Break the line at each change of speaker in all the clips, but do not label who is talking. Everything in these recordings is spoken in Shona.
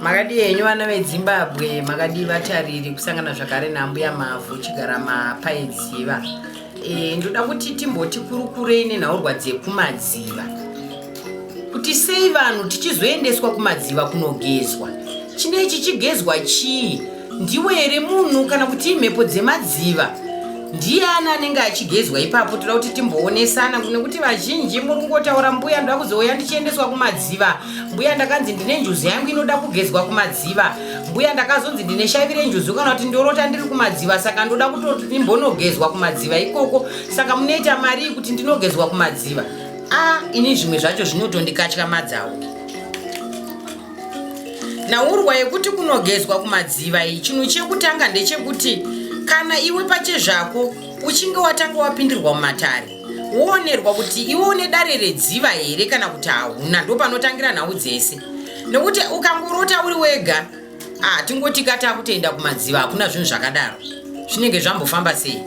makadii henyu vana vedzimbabwe makadii vatariri kusangana zvakare naambuya mavhu chigara mapaidziva e, eh, ndoda kuti timboti kurukurei nenhaurwa dzekumadziva kuti sei vanhu tichizoendeswa kumadziva kunogezwa chinechi chigezwa chii Ndiwe here munhu kana kuti imhepo dzemadziva? Ndiani anenge achigezwa ipapo? Toda kuti timboonesana nekuti vazhinji muri kungotaura mbuya ndoda kuzouya ndichiendeswa kumadziva. Mbuya ndakanzi ndine njuzu yangu inoda kugezwa kumadziva. Mbuya ndakazonzi ndine shavi renjuzu kana kuti ndorota ndiri kumadziva saka ndoda kutoti ndimbonogezwa kumadziva ikoko. Saka munoita marii kuti ndinogezwa kumadziva? Ah, ini zvimwe zvacho zvinotondikatyamadzawo. Nhaurwa yekuti kunogezwa kumadziva iyi chinhu chekutanga ndechekuti kana iwe pachezvako uchinge watanga wapindirwa mumatare woonerwa kuti iwe une dare redziva here kana kuti hauna ndopanotangira nhau dzese nekuti ukangorota uri wega ah, tingoti kataa kutoenda kumadziva hakuna zvinhu zvakadaro zvinenge zvambofamba sei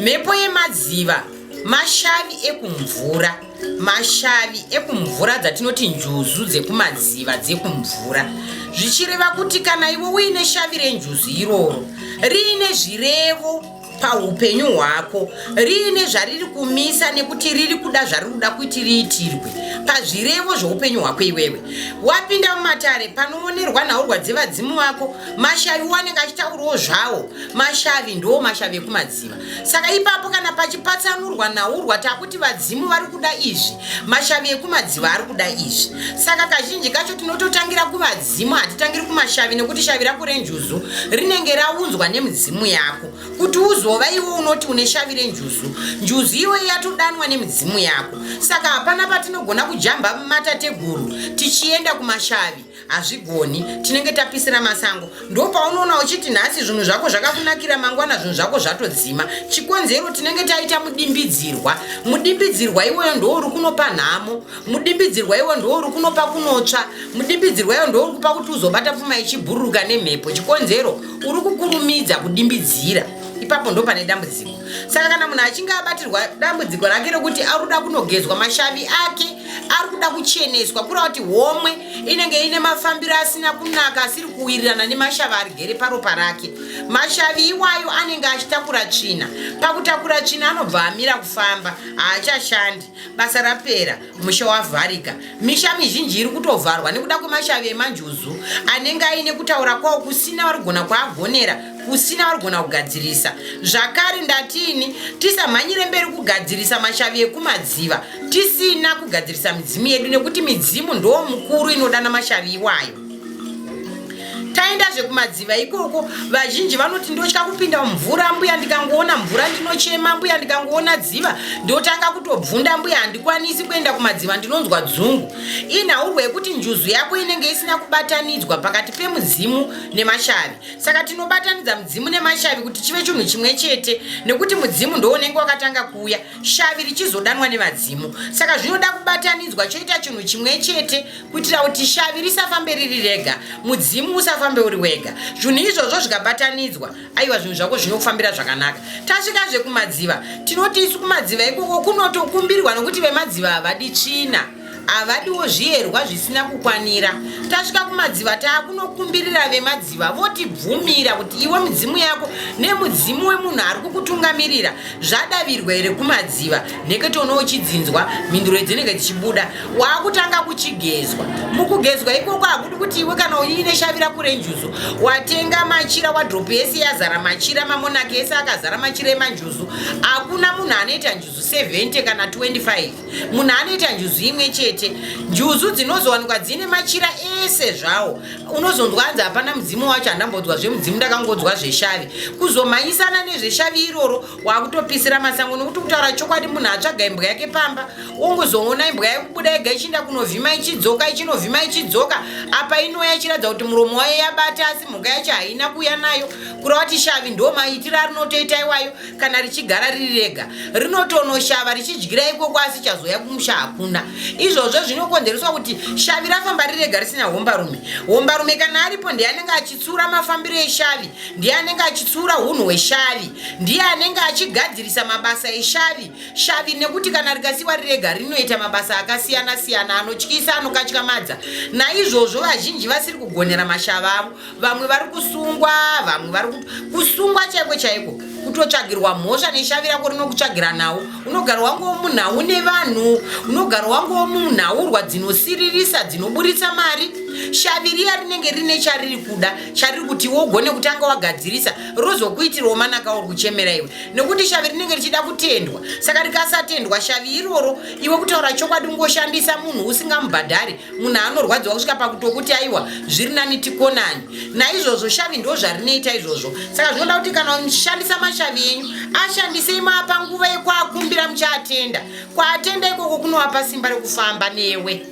mhepo yemadziva mashavi ekumvura mashavi ekumvura dzatinoti njuzu dzekumadziva dzekumvura zvichireva kuti kana iwe uine shavi renjuzu iroro riine zvirevo paupenyu hwako riine zvariri kumisa nekuti riri kuda zvariri kuda kuti riitirwe pazvirevo zveupenyu hwako iwewe wapinda mumatare panoonerwa nhaurwa dzevadzimu vako mashavi wanenge achitaurawo zvawo mashavi ndoo mashavi ekumadzi vanoziva saka ipapo kana pachipatsanurwa naurwa takuti vadzimu vari kuda izvi mashavi ekumadziva ari kuda izvi saka kazhinji kacho tinototangira kuvadzimu hatitangiri kumashavi nekuti shavi rako renjuzu rinenge raunzwa nemidzimu yako kuti uzova iwe unoti une shavi renjuzu njuzu iwe yatodanwa nemidzimu yako saka hapana patinogona kujamba mumatateguru tichienda kumashavi hazvigoni tinenge tapisira masango ndopaunoona uchiti nhasi zvinhu zvako zvakakunakira mangwana zvinhu zvako zvatodzima chikonzero tinenge taita mudimbidzirwa mudimbidzirwa iwoyo ndouri kunopa nhamo mudimbidzirwa iwo ndouri kunopa kunotsva mudimbidzirwa iwo ndouri kupa kuti uzobata pfuma ichibhururuka nemhepo chikonzero uri kukurumidza kudimbidzira ipapo ndo pane dambudziko saka kana munhu achinge abatirwa dambudziko rake rekuti ari kuda kunogezwa mashavi ake ari kuda kucheneswa kura kuti homwe inenge ine mafambiro asina kunaka asiri kuwirirana nemashavi arigere paropa rake mashavi iwayo anenge achitakura tsvina pakutakura tsvina anobva amira kufamba haachashandi basa rapera musha wavharika misha mizhinji iri kutovharwa nekuda kwemashavi emanjuzu anenge aine kutaura kwawo kusina varigona kwaagonera kusina varigona kugadzirisa zvakare ndatini tisamhanyire mberi kugadzirisa mashavi ekumadziva tisina kugadzirisa midzimu yedu nekuti midzimu ndoo mukuru inodana mashavi iwayo taendazve kumadziva ikoko vazhinji vanoti ndotya kupinda mvura mbuya ndikangoona mvura ndinochema mbuya ndikangoona dziva ndotanga kutobvunda mbuya handikwanisi kuenda kumadziva ndinonzwa dzungu inhaurwo yekuti njuzu yako inenge isina kubatanidzwa pakati pemudzimu nemashavi saka tinobatanidza mudzimu nemashavi kuti chive chinhu chimwe chete nekuti mudzimu ndounenge wakatanga kuuya shavi richizodanwa nevadzimu saka zvinoda kubatanidzwa choita chinhu chimwe chete kuitira kuti shavi risafambe riri rega mudzimu usafambe uri wega zvinhu izvozvo zvikabatanidzwa aiwa zvinhu zvako zvinokufambira zvakanaka tasvika zvekumadziva tinoti isu kumadziva ikoko kunotokumbirwa nokuti vemadziva havadi tsvina havadiwo zviyerwa zvisina kukwanira tasvika kumadziva taakunokumbirira vemadziva votibvumira kuti iwe mudzimu yako nemudzimu wemunhu ari kukutungamirira zvadavirwa here kumadziva nekete uno uchidzinzwa mhinduro idzinenge dzichibuda waakutanga kuchigezwa mukugezwa ikoko hakudi kuti iwe kana uine shavira kurenjuzu watenga machira wadropu yese yazara machira mamonaki ese akazara machira emanjuzu hakuna munhu anoita njuzu 70 kana 25 munhu anoita njuzu imwe chete njuzu dzinozowanikwa dzine machira ese zvawo unozonzwa hanzi hapana mudzimu wacho handambodzwa zvemudzimu ndakangodzwa zveshavi kuzomhanyisana nezveshavi iroro wakutopisira masango nokuti kutaura chokwadi munhu atsvaga imbwa yake pamba ongozoona imbwa yekubuda yega ichiinda kunovhima ichidzoka ichinovhima ichidzoka apa inoya ichiratidza kuti muromo wayo yabata asi mhuka yacho haina kuya nayo kureva kuti shavi ndomaitira rinotoita iwayo kana richigara riri rega rinotonoshava richidyira ikoko asi chazoya kumusha hakuna izvozvo zvinokonzereswa kuti shavi rafamba riri rega risina hombarume hombarume kana aripo ndiye anenge achitsura mafambiro eshavi ndiye anenge achitsura unhu hweshavi ndiye anenge achigadzirisa mabasa eshavi shavi nekuti kana rikasiwa riri rega rinoita mabasa akasiyana siyana anotyisa anokatyamadza naizvozvo vazhinji vasiri kugonera mashava avo vamwe vari kusungwa vamwe vari kusungwa chaiko chaiko kutotsvagirwa mhosva neshavi rako rinokutsvagira nhau unogara wange womunhau nevanhu unogara wange womunhaurwa dzinosiririsa dzinoburitsa mari shavi riya rinenge rine chariri kuda chariri kuti iwe ugone kutanga wagadzirisa rozokuitirawo manaka uri kuchemera iwe nekuti shavi rinenge richida kutendwa saka rikasatendwa shavi iroro iwe kutaura chokwadi ungoshandisa munhu usingamubhadhari munhu anorwadziwa kusvika pakutokuti aiwa zviri nani tikonani naizvozvo shavi ndo zvarinoita izvozvo saka zvinoda kuti kana mushandisa mashavi enyu ashandisei maapa nguva yekuakumbira muchaatenda kwaatenda ikoko kunovapa simba rekufamba newe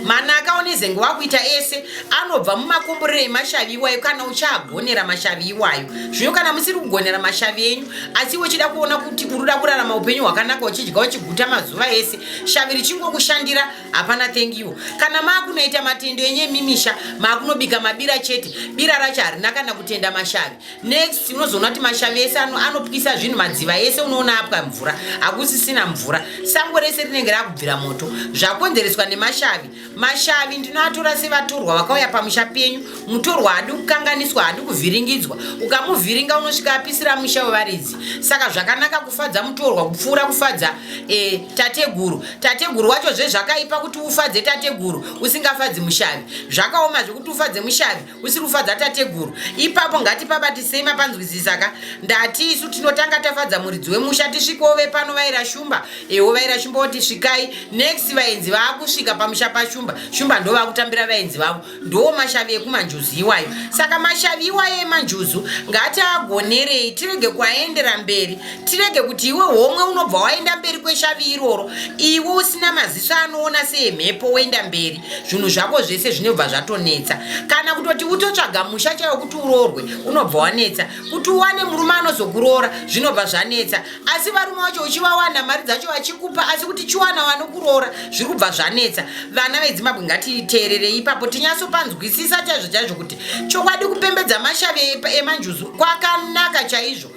mana akaona izenge wakuita ese anobva mumakomborero emashavi iwayo kana uchagonera mashavi iwayo zvino kana musiri kugonera mashavi enyu asi uchida kuona kuti uruda kurarama upenyu hwakanaka uchidya uchiguta mazuva ese shavi richingokushandira hapana thank you kana maakunoita matendo enye mimisha maakunobika mabira chete bira racho harina kana kutenda mashavi next unozoona kuti mashavi ese anopwisa zvinhu madziva ese unoona apwa mvura hakusisina mvura sango rese rinenge rakubvira moto zvakonzereswa nemashavi mashavi ndinoatora sevatorwa vakauya pamusha penyu mutorwa haadi kukanganiswa haadi kuvhiringidzwa ukamuvhiringa unosvika apisira musha wevaridzi saka zvakanaka kufadza mutorwa kupfuura kufadza e, tateguru tateguru wacho zvezvakaipa kuti ufadze tateguru usingafadzi mushavi zvakaoma zvekuti ufadze mushavi usiri kufadza tateguru ipapo ngatipabatisei mapanzwisisa ka ndati isu tinotanga tafadza muridzi wemusha tisvikewo vepano vaira shumba ewo vaira shumba woti svikai next vaenzi vaakusvika pamusha pashumba shumba ndo vakutambira vaenzi vavo ndoo mashavi ekumanjuzu iwayo saka mashavi iwayo emanjuzu ngati agonerei tirege kuaendera mberi tirege kuti iwe homwe unobva waenda mberi kweshavi iroro iwe usina maziso anoona seemhepo woenda mberi zvinhu zvako zvese zvinobva zvatonetsa kana kutoti utotsvaga musha chaiwo kuti uroorwe unobva wanetsa kuti uwane murume anozokuroora zvinobva zvanetsa asi varume vacho uchivawana mari dzacho vachikupa asi kuti chiwana wanokuroora zviri kubva zvanetsa vana vezimbabwe ngatiteererei ipapo tinyatsopanzwisisa chaizvo chaizvo kuti chokwadi kupembedza mashave emanjuzu kwakanaka chaizvo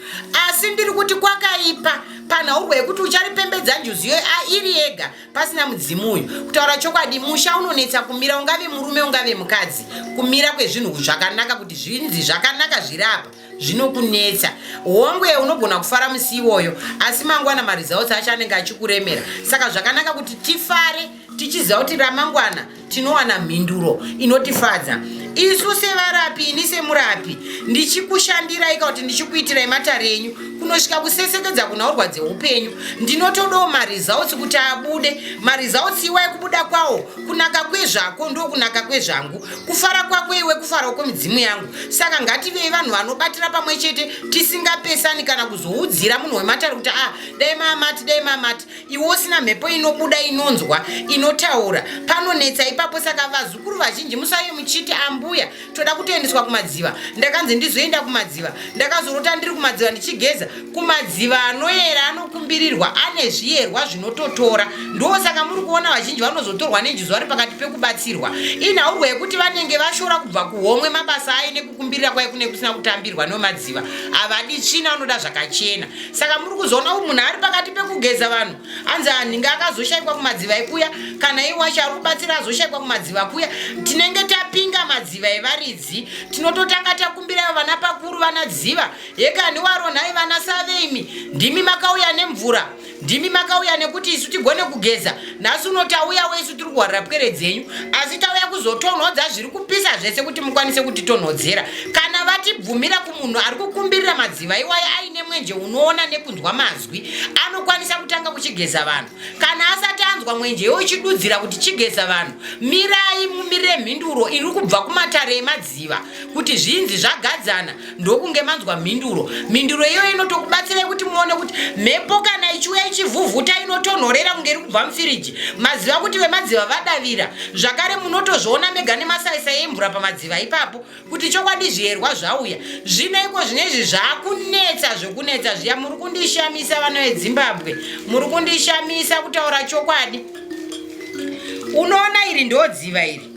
asi ndiri kuti kwakaipa panhaurwa yekuti ucharipembedza njuzu iyoyo airi yega pasina mudzimu uyu kutaura chokwadi musha unonetsa kumira ungave murume ungave mukadzi kumira kwezvinhu zvakanaka kuti zvinzi zvakanaka zviri apa zvinokunetsa hongwe unogona kufara musi iwoyo asi mangwana maresults acho anenge achikuremera saka zvakanaka kuti tifare tichiziva kuti ramangwana tinowana mhinduro inotifadza isu sevarapi ini semurapi ndichikushandiraika ka kuti ndichikuitirai matare enyu kunosvika kusesekedza kunhaurwa dzeupenyu ndinotodawo maresults kuti abude maresults iwa ekubuda kwawo kunaka kwezvako ndo kunaka kwezvangu kufara kwako iwe kufarawo kwemidzimu yangu saka ngativei vanhu vanobatira pamwe chete tisingapesani kana kuzoudzira munhu wematare kuti a ah, dai mamati dai mamati iwe usina mhepo inobuda inonzwa inotaura panonetsa ipapo saka vazukuru vazhinji musave muchiti ambuya toda kutoendeswa kumadziva ndakanzi ndizoenda kumadziva ndakazorota ndiri kumadziva ndichigeza kumadziva anoyera anokumbirirwa ane zviyerwa zvinototora ndo saka muri kuona vazhinji vanozotorwa nenjuzi vari pakati pekubatsirwa inhaurwa yekuti vanenge vashora kubva kuhomwe mabasa aine kumbirira kwai kune kusina kutambirwa nomadziva havadi tsvina vanoda zvakachena saka muri kuzoona u munhu ari pakati pekugeza vanhu hanzi anhinge akazoshaikwa kumadziva ekuya kana iwacho ari kubatsira azoshaikwa kumadziva kuya tinenge tapinga madziva evaridzi tinototanga takumbirayo vana pakuru vana dziva yekani waronhai vana saveimi ndimi makauya nemvura ndimi makauya nekuti isu tigone kugeza nhasi uno tauya wesu tiri kuhwarira pwere dzenyu asi tauya kuzotonhodza zviri kupisa zvese kuti mukwanise kutitonhodzera kana vatibvumira kumunhu ari kukumbirira madziva iwayo aine mwenje unoona nekunzwa mazwi anokwanisa kutanga kuchigeza vanhu kana asati anzwa mwenje yo ichidudzira kuti chigeza vanhu mirai mumire mhinduro iri kubva kumatare emadziva kuti zvinzi zvagadzana ndokunge manzwa mhinduro mhinduro iyoyo inotokubatsirai kuti muone kuti mhepo kana ichiuya ichivhuvhuta inotonhorera kunge iri kubva mufiriji maziva kuti vemadziva vadavira zvakare munotozviona mega nemasaisa emvura pamadziva ipapo kuti chokwadi zviyerwa zvauya zvino iko zvine izvi zvakunetsa zvekunetsa zviya muri kundishamisa vana vedzimbabwe muri kundishamisa kutaura chokwadi unoona iri ndodziva iri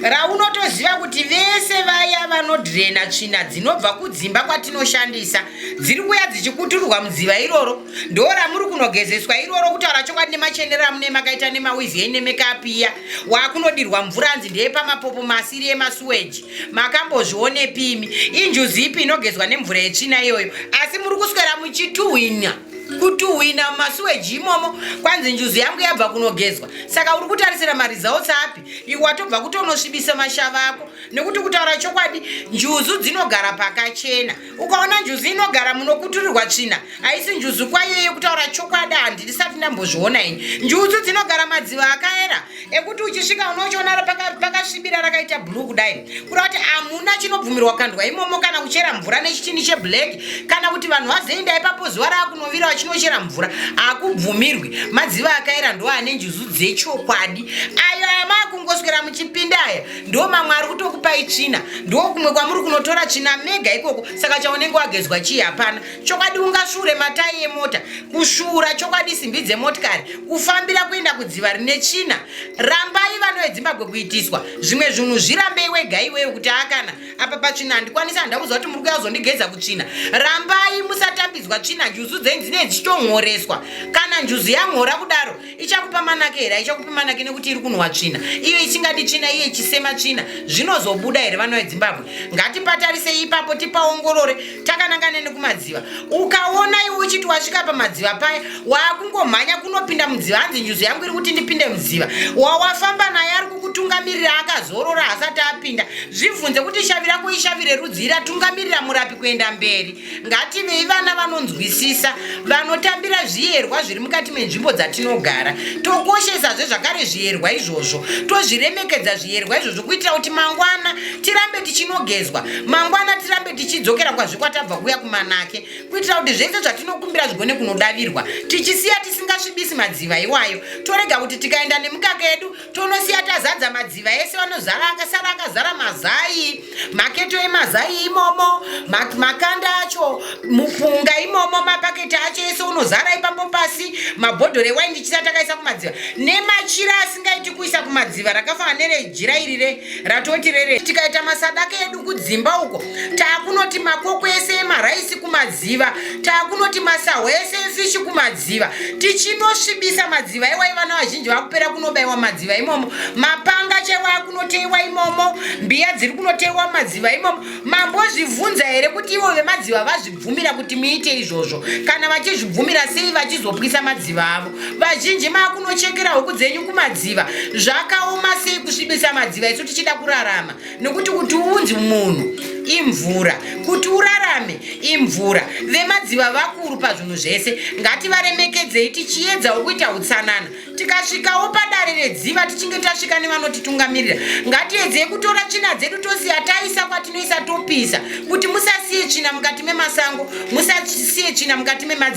raunotoziva kuti vese vaya vanodrena tsvina dzinobva kudzimba kwatinoshandisa dziri kuya dzichikutururwa mudziva iroro ndo ramuri kunogezeswa iroro kutaura chokwadi nemachenero amune makaita nemawizi enyu nemekapiya wakunodirwa mvura anzi ndeyepamapopo masiri emasuweji makambozvionepimi injuzi ipi inogezwa nemvura yetsvina iyoyo asi muri kuswera muchituhwina kutuhwina mumasweji imomo kwanzi njuzu yangu yabva kunogezwa saka uri kutarisira maresults api iwe watobva kutonosvibisa mashava ako nekuti kutaura chokwadi njuzu dzinogara pakachena ukaona njuzu inogara munokuturirwa tsvina haisi njuzu kwaiyo yekutaura chokwadi handisati ndambozviona ini njuzu dzinogara madziva akaera ekuti uchisvika unochiona pakasvibira paka rakaita blue kudai kuda kuti hamuna chinobvumirwa kandwa imomo kana kuchera mvura nechichini cheblack kana kuti vanhu vazoenda ipapo zuva raakunovira vachinochera mvura hakubvumirwi madziva akaera ndo ane njuzu dzechokwadi ayo aya maakungoswera muchipinda aya ndo mamwe ari kutokupai tsvina ndo kumwe kwamuri kunotora tsvina mega ikoko saka chaunenge wagezwa chii hapana chokwadi ungasvuure matayi emota kusvuura chokwadi simbi dzemotikari kufambira kuenda kudziva rine tsvina rambai vano vedzimbabwe kuitiswa zvimwe zvinhu zvirambei wega iweyo kuti akana apa patsvina handikwanisi handida kuziva kuti muri kuya kuzondigeza kutsvina rambai musatambidzwa tsvina njuzu dzenyu dzinei dzichitonhoreswa kana njuzu yanhora kudaro ichakupa manake here haichakupi manake nekuti iri kunhuwa tsvina iyo isingadi tsvina iye ichisema tsvina zvinozobuda here vana vedzimbabwe ngatipatarisei ipapo tipaongorore takanangane nekumadziva ukaona iwe uchiti wasvika pamadziva paya waakungomhanya kunopinda mudziva hanzi nyuzi yangu iri kuti ndipinde mudziva wawafamba naye ari kukutungamirira akazorora hasati apinda zvibvunze kuti shavi rako ishavi rerudzii ratungamirira murapi kuenda mberi ngativei vana vanonzwisisa vanotambira zviyerwa zviri mukati menzvimbo dzatinogara tokoshesazve zvakare zviyerwa izvozvo tozviremekedza zviyerwa izvozvo kuitira kuti mangwana tirambe tichinogezwa mangwana tirambe tichidzokera kwazvikwatabva kuya kumanake kuitira kuti zvese zvatinokumbira zvigone kunodavirwa tichisiya tisingasvibisi madziva iwayo torega kuti tikaenda nemukaka yedu tonosiya tazadza madziva ese vanozara akasara akazara mazai maketo emazai imomo makanda acho mupunga imomo mapaketi acho ese unozara ipapo pasi mabhodhoro ewaini ndichisa takaisa kumadziva nemachira asingaiti kuisa kumadziva rakafanana nerejira iri ratoti rere tikaita masadaka edu kudzimba uko taakunoti makoko ese emaraisi kumadziva taakunoti masahwa ese efishi kumadziva tichinosvibisa madziva iwai vana vazhinji vakupera kunobaiwa madziva imomo mapanga chewa akunoteiwa imomo mbiya dziri kunoteiwa madziva imomo mambozvibvunza here kuti ivo vemadziva vazvibvumira kuti muite izvozvo kana vachizvibvumira sei vachizopwisa madziva avo vazhinji makunochekera huku dzenyu kumadziva zvakaoma sei kusvibisa madziva isu tichida kurarama nokuti kuti unzi munhu imvura kuti urarame imvura vemadziva vakuru pazvinhu zvese ngativaremekedzei tichiedzawo kuita utsanana tikasvikawo padare redziva tichinge tasvika nevanotitungamirira ngatiedzei kutora tsvina dzedu tosiya taisa kwatinoisa topisa kuti musasiye tsvina mukati memasango musasiye tsvina mukati memadziva